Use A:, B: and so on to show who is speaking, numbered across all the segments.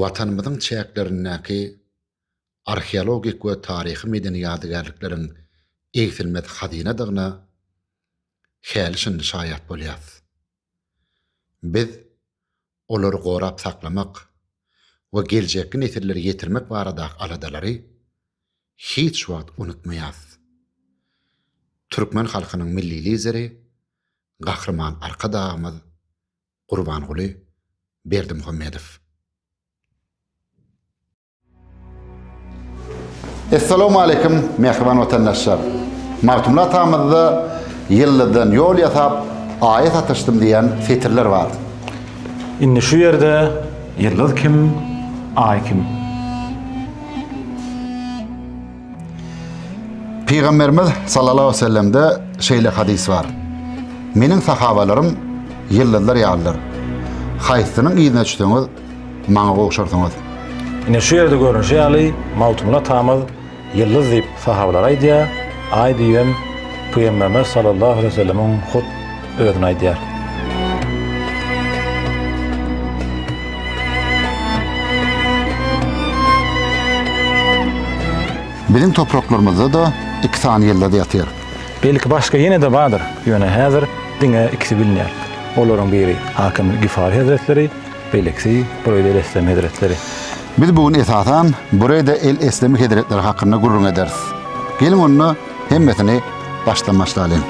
A: Watanymyzyň çäklerindäki arheologik we taryhy-medeni ýadygärlikleriň egsilmez hazynadygyna häli-şindi şaýat bolýarys. Biz olary gorap saklamak we geljekki nesillere ýetirmek baradaky aladalary hiç wagt unutmaýas. Türkmen halkynyň Milli Lideri Gahryman Arkadagymyz Gurbanguly Berdimuhamedow. Essalamu aleyküm, mehriban vatandaşlar. Magtymly atamyzda ýyllydan ýol ýasap, aýa satyşdym diýen setirler bar. Indi
B: şu ýerde ýyldyz kim, aý kim?
A: Pygamberimiz sallallahu aleyhi ve sellemde şeýle hadis bar. Meniň sahabalarym ýyldyzlar ýalydyr. Haýsynyň yzyna düşseňiz, Maňa gowşarsyňyz. Ine şu ýerde
B: görnüşi ýaly, Magtymguly atamyz Ýyldyz diýip sahabalar aýdýar, Aý diýibem Pygamberimiz sallallahu aleýhi we sellemiň hut özüni aýdýar.
A: Biziň topraklarymyzda-da iki sany ýyldyz ýatyr. Belki başga
B: ýene-de bardyr, ýöne häzir diňe ikisi bilinýär. Olaryň biri Hakim Gifari hezretleri, Belki, Bureýde El Eslem hezretleri. Biz bu gün
A: esasan Bureýde El Eslem hezretleri hakynda gürrüň ederis. Geliň onda hemmesini başdan başlalyň.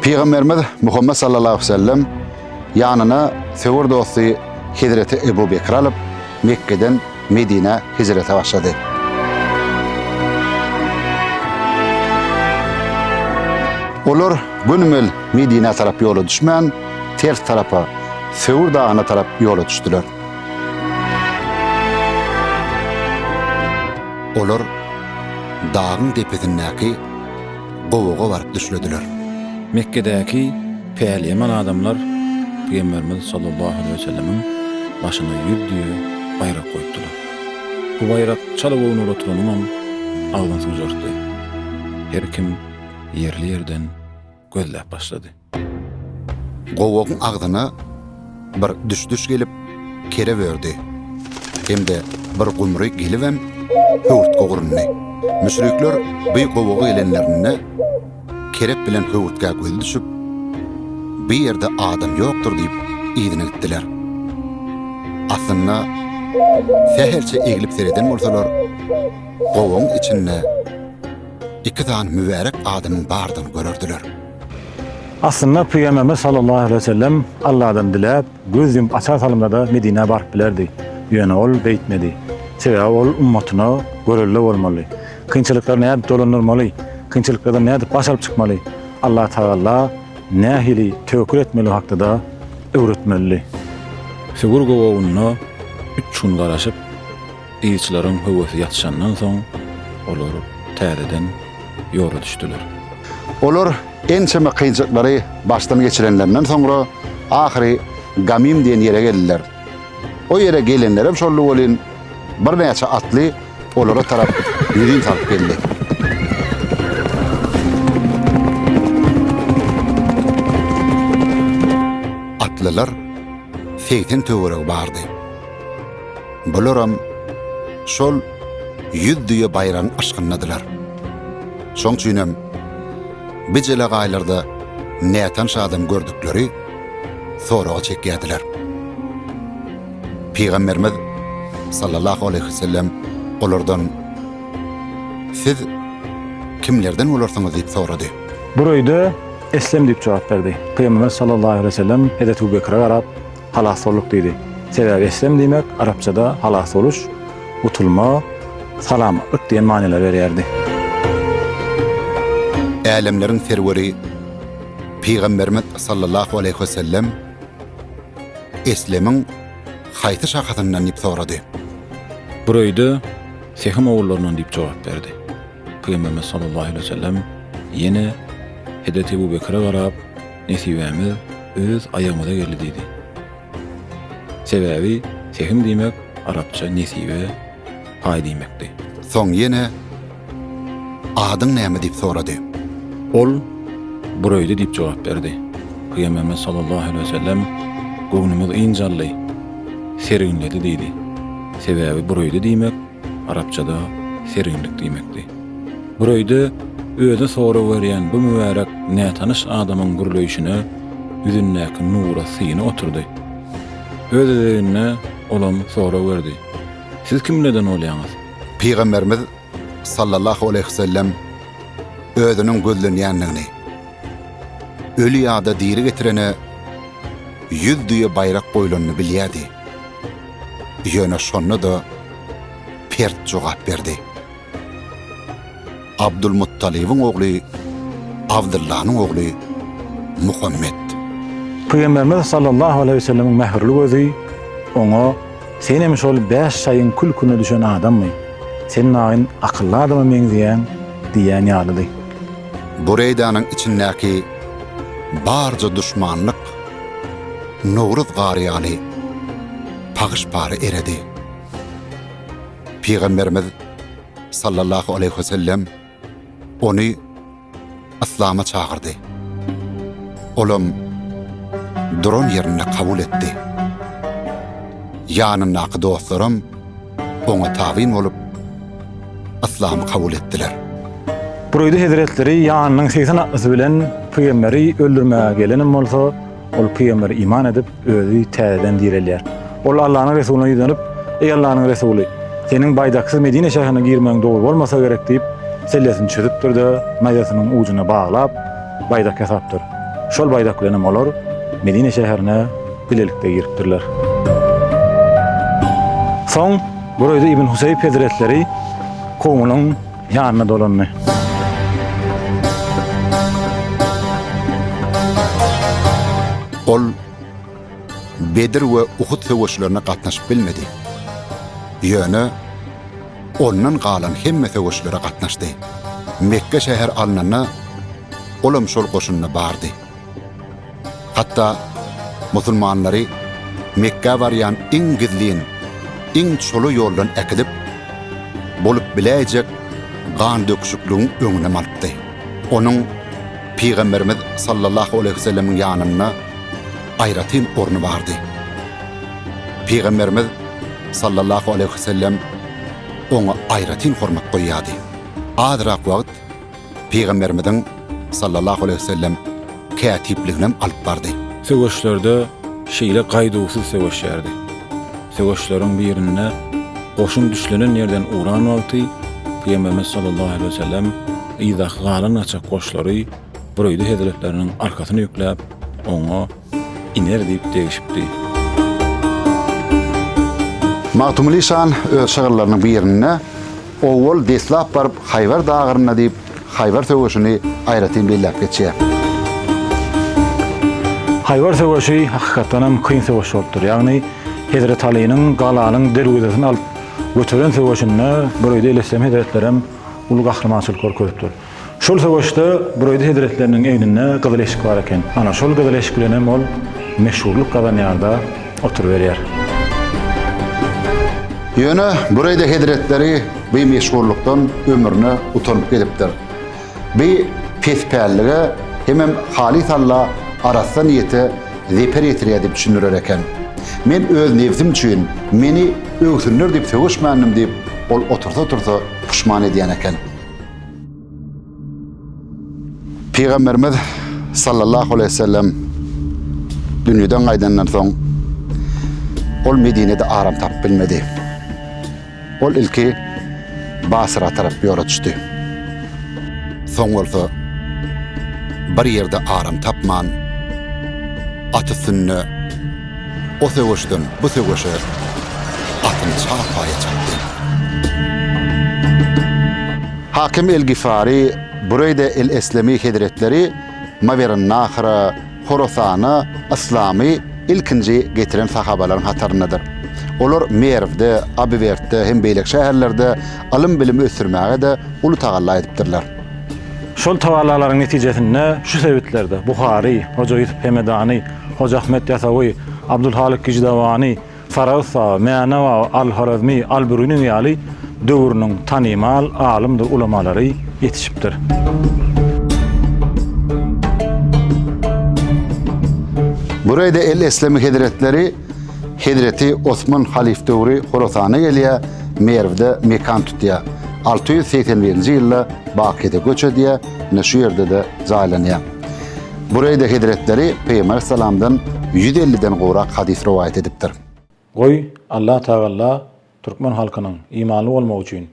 A: Pygamberimiz Muhammet sallallahu aleyhi ve sellem ýanyna söwer dosty Hezreti Ebu Bekri alyp Mekgeden Medinä hijrete başlady. Olar gönümel Medinä tarap ýola düşmän, ters tarapa, Söwür dagyna tarap ýola düşdüler. Olar dagyň depesindäki gowaga baryp düşlediler. Mekgedäki
C: Päliýeman adamlar Pygamberimiz sallallahu aleýhi we sellemiň başyna ýüz düýe baýrak goýupdylar. Bu baýrak çala göwni ulaturanyňam agzyny suwjartdy. Her kim ýerli-ýerden gözläp başlady.
A: Gowagyň agzyna Bir düş-düş gelip, kerep ördi. Hem-de bir gumry gelibem, höwürtge gurundy. Müşrikler bi gowaga gelenlerinde, kerep bilen höwürtgä gözi düşüp, Bi ýerde adam ýokdur diýip, yzyna gitdiler. Aslynda, sähelçe eglip sereden bolsalar, gowagyň içinde iki sany mübärek adamyň bardygyny görerdiler.
B: Aslynda Pygamberimiz sallallahu aleýhi we sellem Alladan diläp, göz ýumup açar salymda-da Medinä baryp bilerdi. Ýöne ol beýtmedi. Sebäbi ol ummatyna görelde bolmaly. Kynçylyklary nädip dolandyrmaly, kynçylyklardan nädip baş alyp çykmaly, Allah Tagala nähili töwekgül etmeligi hakda-da öwretmelidi.
C: Sugur gowagynda üç gün garaşyp. Gyzlaryň höwesi ýatyşandan soň, olar täzeden ýola düşdüler. Olar
A: ençeme kynçylyklary başdan geçirenlerinden soňra, ahyry Gamim diýen ýere geldiler. O ýere gelenlerem şoldy welin, birnäçe atly olara tarap ýüzin salyp geldi. Atlylar segsen töweregi bardy. Bularam şol ýüz düýe baýran yşkyndadylar. Şoň üçinem bi jelegaýlarda nätanyş adam gördükleri soraga çekýärdiler. Pygamberimiz sallallahu aleyhi ve sellem olardan siz kimlerden olarsyňyz diýip sorady. Bureyde
B: eslem diýip jogap berdi. Pygamberimiz sallallahu aleyhi ve sellem Hezreti Ebu Bekre garap, Halas bolduk diýdi. Sebäbi eslem diýmek arapçada halas boluş, gutulma, salamatlyk diýen manylary berýärdi.
A: Älemleriň serweri Pygamberimiz sallallahu aleýhi we sellem eslemiň haýsy şahasyndan diýip sorady. Bureýde
C: Sehm ogullaryndan diýip jogap berdi. Pygamberimiz sallallahu aleýhi we sellem ýene Hezreti Ebu Bekre garap, Nesibämiz öz aýagymyza geldi diýdi. Sebäbi sehim diýmek arapça nesibe, paý diýmekdi. Soň ýene
A: Adyň näme diýip sorady. Ol
C: Bureýde diýip jogap berdi. Pygamberimiz sallallahu aleýhi we sellem Göwnümiz ynjaldy, serginledi diýdi. Sebäbi Bureýde diýmek Arapçada serginlik diýmekdi. Bir öýde özi sorag berýän bu mübärek nätanyş adamyň gürleýşine ýüzündäki nura syny oturdy. Öz-özegine olam sorag berdi. Siz kimlerden bolýaňyz? Pygamberimiz
A: sallallahu aleýhi we sellem özüniň gözlenýändigini, öli ýa-da diri getirene ýüz düýe baýrak goýlanyny bilýärdi. Ýöne şonda-da pert jogap berdi. Abdulmuttalybyň ogly Abdyllanyň ogly Muhammet.
B: Pygamberimiz sallallahu aleýhi we sellemiň mähirli gözi oňa, Sen hem şol bäş şaýyň kül-külüne düşen adammy? Sen maýyn akylly adama meňzeýäň diýýän ýalydy.
A: Bureýdanyň içindäki barja duşmanlyk Nowruz gary ýaly pagyş-pagy eredi. Pygamberimiz sallallahu aleýhi we sellem ony yslama çagyrdy. Olam duran ýerinde kabul etdi. Ýanyndaky dostlaram oňa tabyn bolup, yslamy kabul etdiler. Bureýdi
B: hezretleri ýanynyň segsen atlysy bilen pygamberi öldürmäge gelenem bolsa, ol pygamber iman edip, özi täzeden direlýär. Ol Allanyň resulyna ýüzlenip, Eý Allanyň resuly, seniň baýdaksyz Medine şäherine girmegiň dogry bolmasa gerek diýip, sellesini çözüpdir-de, naýzasynyň ujuna baglap, baýdak ýasapdyr. Şol baýdak bilenem olar Medine şäherine bilelikde giripdirler. Soň Burayda İbn Huseyb hezretleri kowmunyň ýanyna dolandy.
A: Ol Bedir we Uhud söweşlerine gatnaşyp bilmedi. Ýöne ondan galan hemme söweşlere gatnaşdy. Mekge şäher alnanda ol hem şol goşunda bardy. Hatda musulmanlary Mekgä barýan iň gizlin, iň çola ýoldan äkidip, bolup biläýjek gandöküşikligiň öňünem alypdy. Onuň Pygamberimiz sallallahu aleýhi we sellemiň ýanynda aýratyn orny bardy. Pygamberimiz sallallahu aleýhi we sellem oňa aýratyn hormat goýýardy. Azrak wagt Pygamberimiziň, sallallahu aleýhi we sellem, kätipliginem alyp bardy. Söweşlerde
C: şeýle gaýduwsyz söweşýärdi. Söweşleriň birinde goşun düşlenen ýerden ugran wagty Pygamberimiz, sallallahu aleýhi we sellem, yzdaky galan gaçak goşlary büreýdi hezretleriniň arkasyna ýükläp, oňa, Iner diýip degişipdi.
A: Magtymguly şan öz şygyrlarynyň birinde Owal deslap baryp Haýbar dagyrynda diýip Haýbar söweşini aýratyn belläp geçýär.
B: Haýbar söweşi hakykatdanam kyn söweş bolupdyr. Ýagny Hezret Alynyň galanyň derwezesini alyp göteren söweşinde bir öýde elesem hezretlerem uly gahrymançylyk görkezipdir. Şol söweşde Bureýdi hezretleriniň egninde gyzyl eşik bar eken. Ana, şol gyzyl eşik bilen hem ol meşhurlyk gazanýar-da, oturyberýär.
A: Ýöne Bureýdi hezretleri bi meşhurlykdan ömrüne utanyp gelipdir. Bi pes pällige hemem halys alla arassa niýete zeper ýetirýär diýip düşündirer eken. Men öz nebsim üçin, meni öwsünler diýip söweşmändim diýip, ol otursa-otursa puşman edýän eken. Pygamberimiz sallallahu aleyhi ve sellem dünýeden gaýdandan soň ol Medinede aram tapyp bilmedi. Ol ilki Basra tarap ýola düşdi. Soň bolsa bir ýerde aram tapman at üstünde O söweşden bu söweşe atyny çarpaýa çapdy. Hakim el-Gifari, Bureýde el-Eslemi hezretleri Mawerennahra, Horasana, yslamy ilkinji getiren sahabalaryň hataryndadyr. Olar Merwde, Abywertde hem beýleki şäherlerde ylym-bilim ösdürmäge-de uly tagalla edipdirler. Şol
B: tagallalaryň netijesinde şu sebitlerde Buhary, Hoja Ýusup Hemedany, Hojaahmet Ýasawy, Abdulhalyk Gijdawany, Farabysa, Mänewa, Al-Horezmi, Al-Biruni ýaly döwrüniň tanymal alymdyr ulamalary ýetişipdir.
A: Bu reýde el-Eslemi hezretleri hezreti Osman halyf döwri Horasana gelýär, Merwde mekan tutýar. Alty ýüz segsen birinji ýylda Bakide göç edýär, ine şu ýerde-de jaýlanýar. Bureýde hezretleri Pygambersallamdan ýüz elliden gowrak hadys rowaýat edipdir. Goý,
B: Allah Tagalla türkmen halkynyň imanly bolmagy üçin,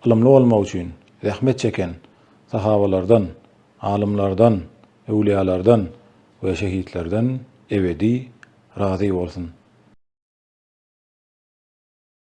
B: ylymly bolmagy üçin zähmet çeken sahabalardan, alymlardan, öwliýalardan we şehitlerden ebedi razy bolsun!